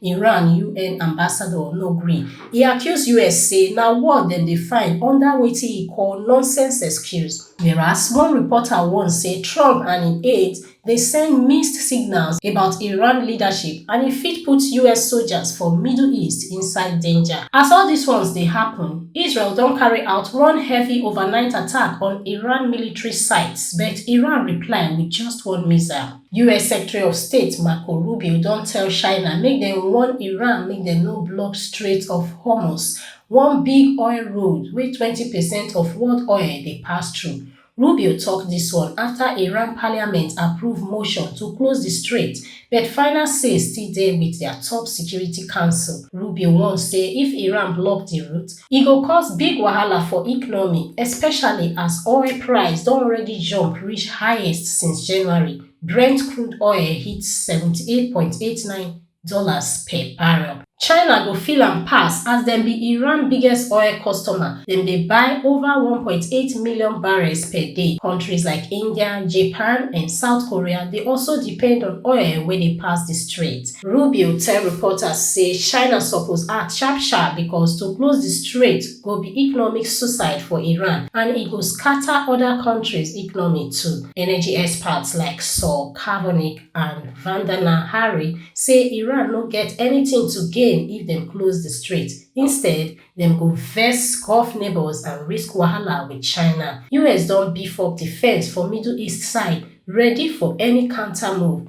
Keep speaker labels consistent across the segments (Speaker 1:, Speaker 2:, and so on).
Speaker 1: Iran UN ambassador no gree. E accuse us say na war dem dey find under wetin e call nonsense excuse. Whereas one reporter warn say Trump and im aides dey send mixed signals about Iran leadership and e fit put us soldiers for Middle East inside danger. As all dis ones dey happen, Israel don carry out one heavy overnight attack on Iran military sites but Iran reply with just one missile. us secretary of state marco rubio don tell china make dem warn iran make dem no block strait of hormuz one big oil road wey twenty percent of world oil dey pass through rubio tok dis one afta iran parliament approve motion to close di strait but final say still dey wit dia top security council rubio warn say if iran block di route e go cause big wahala for economy especially as oil price don already jump reach highest since january brent crude oil hit 78.89 dollars per barrel china go feel am pass as dem be iran biggest oil customer dem dey buy over 1.8 million barrels per day countries like india japan and south korea dey also depend on oil wey dey pass di strait Rubio tell reporters say China suppose act sharp sharp because to close di strait go be economic suicide for Iran and e go scatter oda kontris economy too. Energy experts like Saul Kavonic and Vandana Hari say Iran no get anytin to gain if dem close di strait, instead dem go vex Gulf neighbours and risk wahala wit China. US don beef up defence for Middle East side, ready for any counter move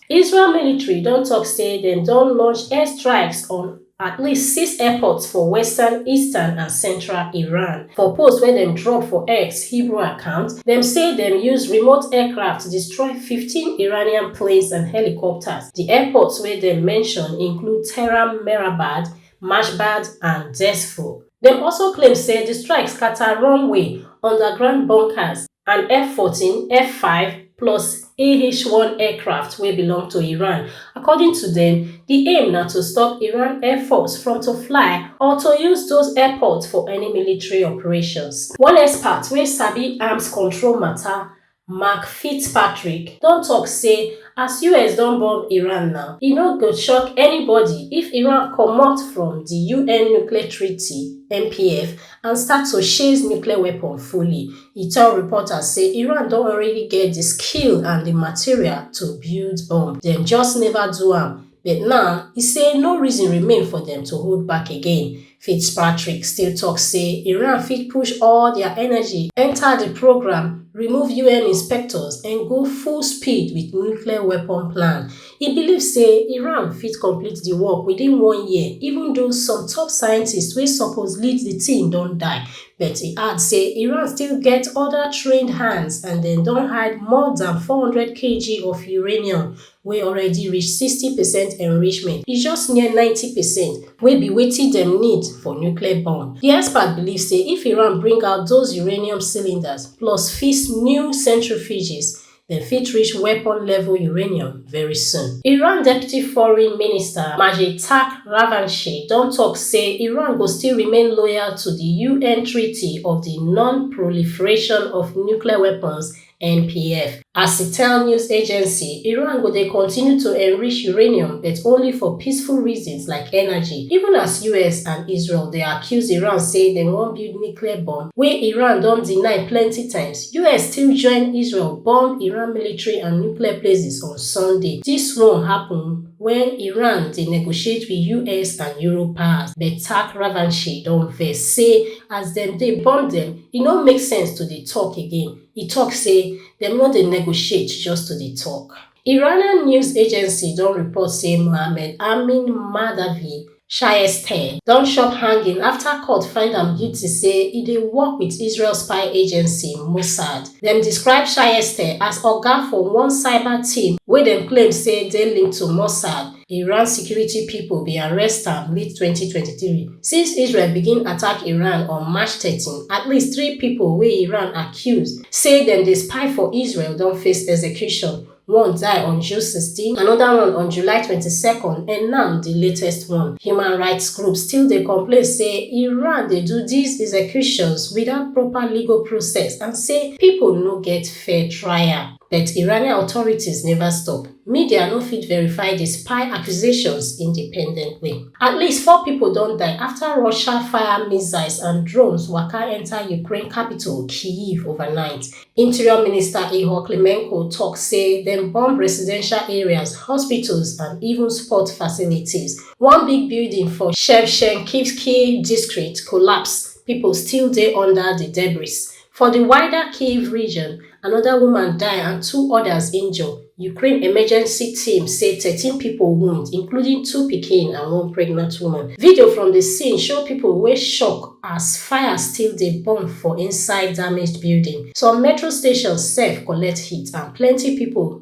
Speaker 1: israel military don tok say dem don launch air strikes on at least six airports for western eastern and central iran for post wey dem drop for x hebrew account dem say dem use remote aircraft destroy fifteen iranian planes and helicopters di airports wey dem mention include tehran mehrabad mashhad and dzeifor dem also claim say di strike scata runway underground bunkers and f14 f5 plus ah1 aircraft wey belong to iran according to dem di aim na to stop iran air force from to fly or to use those airports for any military operations one expert wey sabi arms control mata Mark Fitzpatrick don tok say as us don bomb Iran now, e no go shock anybody if Iran comot from di un nuclear treaty, NPF, and start to sheize nuclear weapon fully. E tell reporters say Iran don already get di skill and di material to build bomb, dem just neva do am. but now e say no reason remain for dem to hold back again fitzpatrick still tok say iran fit push all dia energy enta di programme remove un inspectors and go full speed wit nuclear weapon plan e believe say iran fit complete di work within one year even though some top scientists wey suppose lead di team don die but e add say iran still get oda trained hands and dem don hide more dan 400kg of uranium wey already reach sixty percent enrichment, e just near ninety percent, wey be wetin dem need for nuclear bomb. Di expert believe say if Iran bring out those uranium cylinders plus fix new centrifuges, dem fit reach weapon-level uranium very soon. Iran Deputy Foreign Minister Majid Takht Ravanchi don tok say Iran go still remain loyal to di UN Treaty of di Non-Proliferation of Nuclear Weapons NPF. As e tell news agency, Iran go dey continue to enrich uranium but only for peaceful reasons like energy, even as us and Israel dey accuse Iran say dem wan build nuclear bomb wey Iran don deny plenty times. Us still join Israel bomb Iran military and nuclear places on Sunday. Dis one happen wen Iran dey negotiate with us and Europe powers but Tack Ravanchi don vex say as dem dey bomb dem, E no make sense to dey tok again, e tok say dem no dey negotiate just to dey tok. Iranian news agency don report say Mohammed Amin Mahdavi Shayeesteh don chop hanging afta court find am guilty say e dey work wit Israel spy agency Mossad. Dem describe Shayeesteh as oga for one cyber team wey dem claim say dey linked to Mossad. Iran security pipo bin arrest am late 2023 since Israel begin attack Iran on March 13. At least three pipo wey Iran accuse say dem dey spy for Israel don face execution, one die on June 16, anoda one on July 22nd and now di latest one. Human rights groups still dey complain say Iran dey do dis executions without proper legal process and say pipo no get fair trial. But Iranian authorities neva stop. Media no fit verify di spy accusations independently. At least four pipo don die afta Russia fire missiles and drones waka enta Ukraine capital Kyiv overnight. Interior Minister Ihor Klimenko tok say dem bomb residential areas, hospitals and even sport facilities. One big building for Shevchenkivsky district collapse, pipo still dey under di debris. For di wider Kyiv region, anoda woman die and two odas injure, Ukraine emergency team say thirteen pipo wound, including two pikin and one pregnant woman. Video from di scene show pipo wey shock as fire still dey burn for inside damaged building. Some metro stations sef collect hit and plenty pipo.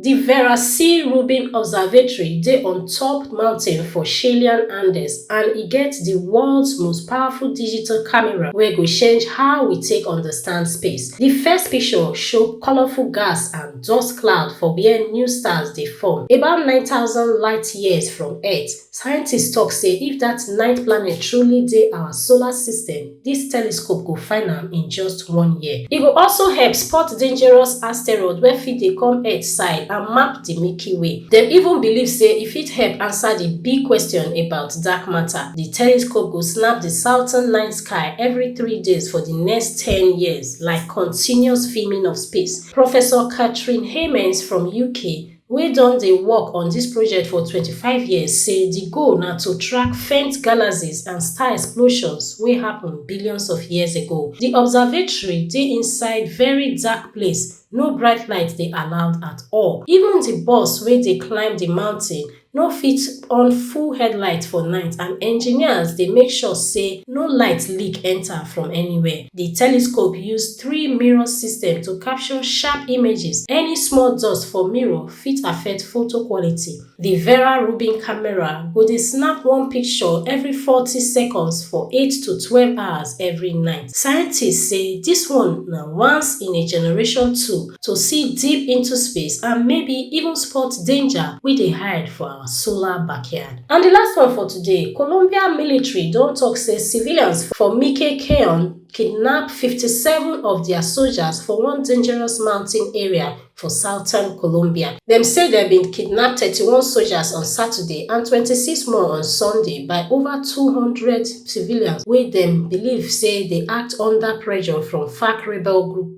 Speaker 1: Di Vera C. Rubin Observatory dey on top mountain for Chilean Andes and e get di world's most powerful digital camera wey go change how we take understand space. Di first picture show colourful gas and dust cloud for wia new stars dey form, about nine thousand light years from Earth. Scientists tok say if dat ninth planet truly dey our solar system, dis telescope go find am in just one year. E go also help spot dangerous asteroids wey fit dey come Earth side and map di Milky Way. Dem even believe say e fit help answer di big question about dark matter. Di telescope go snap di southern night sky every three days for di next ten years, like continuous filming of space. Professor Katrin Heymans from UK, wey don dey work on dis project for 25 years say di goal na to track faint galaxies and star explosions wey happun billions of years ago. Di observatory dey inside very dark place, no bright light dey allowed at all. Even di bus wey dey climb di mountain no fit on full headlight for night and engineers dey make sure say no light leak enta from anywhere. di telescope use three mirror system to capture sharp images any small dust for mirror fit affect photo quality di vera rubin camera go dey snap one picture every forty seconds for eight to twelve hours every night scientists say dis one na once in a generation tool to see deep into space and maybe even spot danger wey dey hide for our solar backyard And the last one for today, Colombia military don talk say civilians for Mike Keon kidnap 57 of their soldiers for one dangerous mountain area for southern Colombia. Dem say dem bin kidnap 31 soldiers on Saturday and 26 more on Sunday by over 200 civilians wey dem believe say dey act under pressure from FARC rebel group.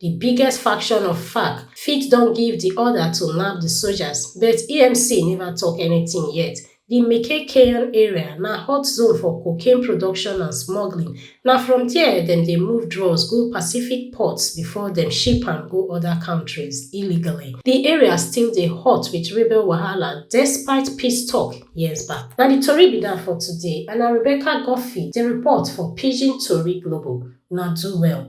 Speaker 1: Di biggest faction of FARC fit don give di order to nab di sojas but EMC neva tok anytin yet. Di Mekekeyan area na hot zone for cocaine production and smuggling, na from dia dem dey move drugs go Pacific ports bifor dem ship am go oda kontris illegally. Di area still dey hot wit rebel wahala despite peace tok years back. Na di tori be dat for today and na Rebecca Guffey dey report for Pidgin Tori Global. Una do well.